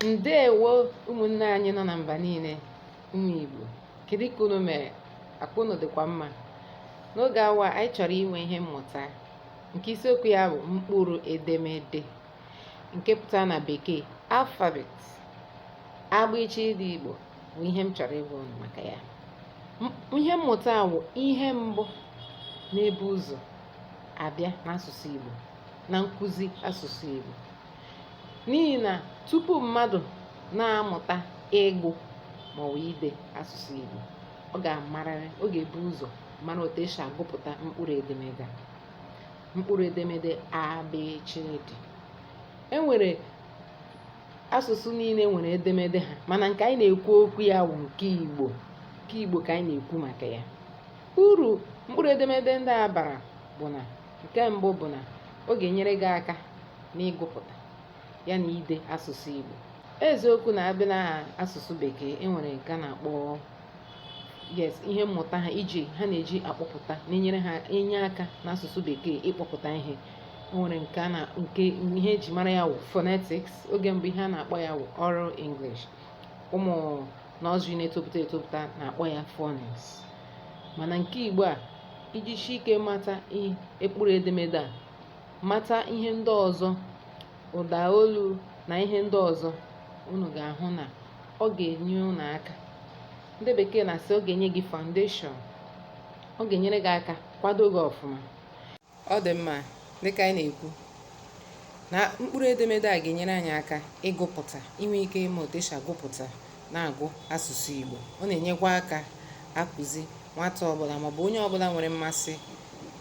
ndewo ụmụnne anyị nọ na mba niile ụmụ Igbo kedu ka unu mere akwa unu dịkwa mma n'oge awa anyị chọrọ inwe ihe mmụta nke isiokwu ya bụ mkpụrụ edemede nke pụtara na bekee alphabet abịchịdị Igbo bụ ihe m chọrọ ịgwa unu maka ya ihe mmụta a wụ ihe mbụ na-ebu ụzọ abịa n'asụsụ Igbo na nkụzi asụsụ Igbo n'ihi na tupu mmadụ na-amụta ịgụ maọbụ ide asụsụ Igbo ọ ga-amarịrị ọ ga-ebu ụzọ mara otu esi agụpụta mkpụrụ edemede mkpụrụ edemede abịchịdị e nwere asụsụ niile nwere edemede ha mana nke anyị na-ekwu okwu ya bụ nke Igbo nke Igbo ka anyị na-ekwu maka ya uru mkpụrụ edemede ndị a bara bụ na nke mbụ bụ na ọ ga-enyere gị aka n'ịgụpụta ya na ide asụsụ Igbo eziokwu na a bịa na asụsụ bekee enwere nke a na-akpọ yes ihe mmụta ha iji ha na-eji akpọpụta na-enyere ha enye aka n'asụsụ bekee ịkpọpụta ihe nwere nke na nke ihe eji mara ya wụ phonetics oge mbụ ihe a na-akpọ ya wụ oral English ụmụ nursery na-etopụta etopụta na-akpọ ya phonics mana nke Igbo a i jisie ike mata mkpụrụ edemede a mata ihe ndị ọzọ ụda olu na ihe ndị ọzọ unu ga-ahụ na ọ ga-enye unu aka ndị bekee na-asị ọ ga-enye gị foundation ọ ga-enyere gị aka kwado gị ọfụma ọ dị mma dịka anyị na-ekwu na mkpụrụ edemede a ga-enyere anyị aka ịgụpụta inwe ike ịma otu esi agụpụta na-agụ asụsụ Igbo ọ na-enyekwa aka akụzi nwata ọbụla maọbụ onye ọbụla nwere mmasị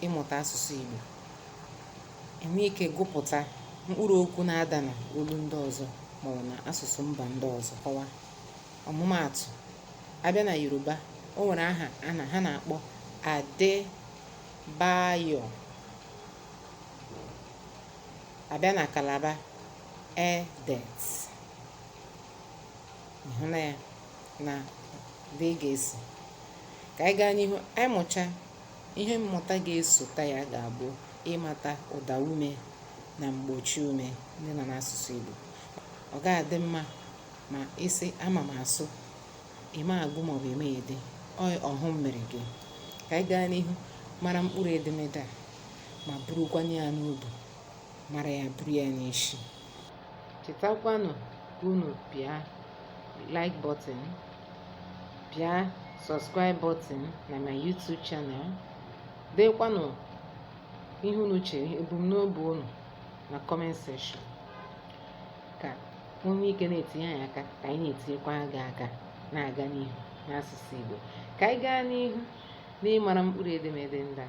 ịmụta asụsụ Igbo inwe ike gụpụta mkpụrụ okwu na-ada na olu ndị ọzọ maọbụ na asụsụ mba ndị ọzọ kọwa ọmụmaatụ a bịa na Yoruba o nwere aha ha na-akpọ Ade Bayo a bịa na Calabar Edet ị hụna ya na dị ị ga-esi ka anyị gaa n'ihu anyị mụcha ihe mmụta ga-esota ya ga-abụ ịmata ụda ume na mgbochi ume ndị nọ n'asụsụ Igbo ọ ga-adị mma ma ị sị ama m asụ ịma agụ maọbụ ịma ede ọ wụ mmeri gị ka anyị gaa n'ihu mara mkpụrụ edemede a ma burukwanụ ya n'obi mara ya buru ya n'isi chetakwanụ ka unu pịa like button pịa subscribe button na my YouTube channel deekwanụ ihe unu chere ebumnobi unu na comment section ka ka o nwee ike na-etinye anyị aka ka anyị na-etinyekwa gị aka na-aga n'ihu n'asụsụ Igbo ka anyị gaa n'ihu n'ịmara mkpụrụ edemede ndị a